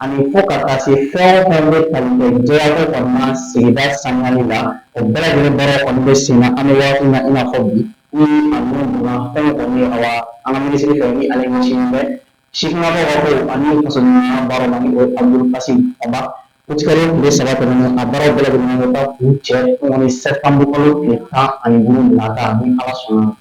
ani fo ka taa se fɛn o fɛn bɛ tali kɛ jɛyako kɔni na sigida saniyali la o bɛɛ lajɛlen baara kɔni bɛ sen na an bɛ waati min na i n'a fɔ bi ni a minnu donna fɛn o kɔni ye awa an ka minisiri fɛ ni ale ɲɛsinnen bɛ sifinnakaw ka ko ani fasodenɲumanya baaraw ma ni o ye Abudul Kasimu Fɔnba utikalo tile saba tɛmɛnen a baaraw bɛɛ lajɛlen bɛ taa kuncɛ kɔni sɛtanburu kalo tile tan ani duuru nata ni ala sɔnna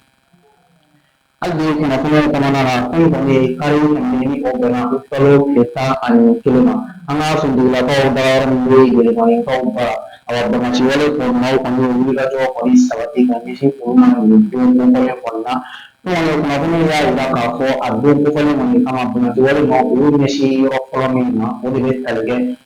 Hali bi kunnafoniw kɔnɔna na fɛn kɔni ye kari kɔni ni o bɛnna utikalo tile tan ani kelen ma an ka finitigilakaw dayɔrɔ min bɛ Yelimanikaw bara awa banbaanci wale maaw kɔni ye wulikajɔ kɔni sabati ka ɲɛsin olu ma nin don kofɔlen kɔni na fɛn kɔni kunnafoniw y'a jira k'a fɔ a don kofɔlen kɔni kama banbaanci wale maaw olu ɲɛsin yɔrɔ fɔlɔ min ma o de bɛ tali kɛ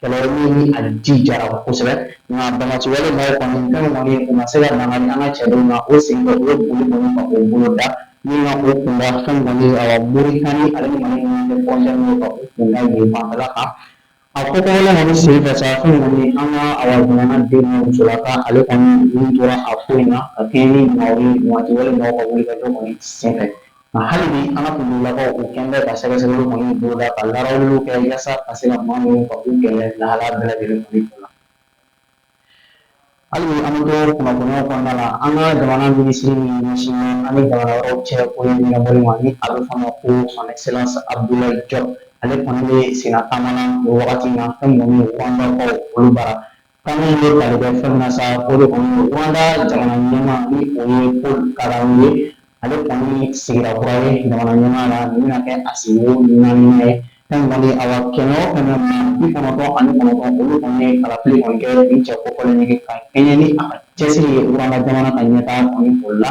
Kɛlɛ ni a jijara kosɛbɛ nka banbaanci wale maaw kɔni fɛn kɔni u ma se ka na an ka cɛdenw na o sen fɛ u ye boli kɔni ka o boloda ni ka o kunda fɛn kɔni a Moritani ale ni Mali ɲɔgɔn cɛ frontière ka o kunda yen fanfɛla kan a ko kɔnɔna kɔni sen fɛ sa fɛn kɔni an ka a jamanaden musolaka ale kɔni nin tora a ko in na ka kɛɲɛ ni maa ye banbaanci wale maaw ka wulikajɔ kɔni sen fɛ Nka hali bi an ka finitigilakaw u kɛlen bɛ ka sɛgɛsɛgɛli kɔni boloda ka larafuw kɛ walasa ka se ka maa ninnu ka u kɛlɛ lahalaya bɛɛ lajɛlen la hali bi an bɛ to kunnafoniya kɔnɔna la an ka jamana minisiri min ɲɛsinnen an ni jamana wɛrɛw cɛ koɲɛ ɲɛnabɔli ma ni a bɛ fɔ a ma ko son excellence Abdoulaye Diop ale kɔni bɛ senna taama na o wagati na fɛn kɔni ye Rwandakaw olu bara Kan min bɛ tali kɛ fɛn na sa o de kɔni Rwanda jamana ɲɛmaa ni o ye Paul Kagame ye ale kɔni sigira kura ye jamana ɲɛmaa la nin bɛna kɛ a sigiko naaninan ye fɛn kɔni awa kɛmɛ o kɛmɛ maa bi kɔnɔntɔn ani kɔnɔntɔn olu kɔni ye kalafili kɔni kɛ nin cɛ kofɔlen ye ka kɛɲɛ ni a cɛsiri ye Rwanda jamana ka ɲɛtaa kɔni o la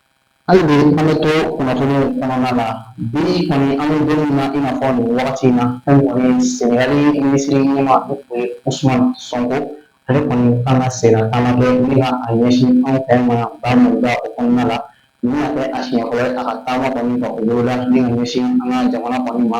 Hali bi an bɛ to kunnafoni kɔnɔna la bi kɔni an bɛ don min na i n'a fɔ nin wagati in na fɛn kɔni ye Senegali minisiri ɲɛmaa ni o ye Ousmane Sonko ale kɔni kan ka senna taama kɛ ni ka a ɲɛsin anw fɛ yan Bamada o kɔnɔna la nin bɛna kɛ a siɲɛ fɔlɔ ye a ka taama kɔni ka o boloda ni ka ɲɛsin an ka jamana kɔni ma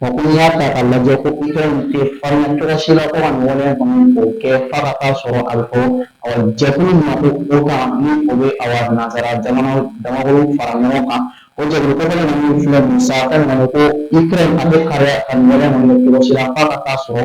Wa ko n'i y'a ta k'a lajɛ ko Ukraine tɛ farinya cogoya si la ko ka nin waleya kɔni k'o kɛ f'a ka taa sɔrɔ a bɛ fɔ ɔ jɛkulu min ma ko OTAN ni o bɛ awa nanzara jamanaw damakolo fara ɲɔgɔn kan o jɛkulu kofɔlen ninnu filɛ nin ye sa fɛn kɔni ko Ukraine a tɛ farinya ka nin waleya kɔni kɛ cogo si la f'a ka taa sɔrɔ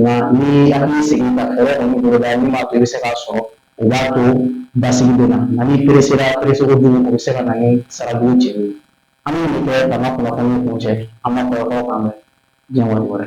nka ni hakili sigi ka fɛɛrɛ kɔni boloda min b'a to i bɛ se k'a sɔrɔ o b'a to basigi bɛ na nka n'i peresera pereseko jugu o bɛ se ka na ni sarabu jeli ye an bɛ nin kɛ ka an ka kunnafoni kuncɛ an ka kɔrɔkɔrɔ kan mɛn diɲɛ waati wɛrɛ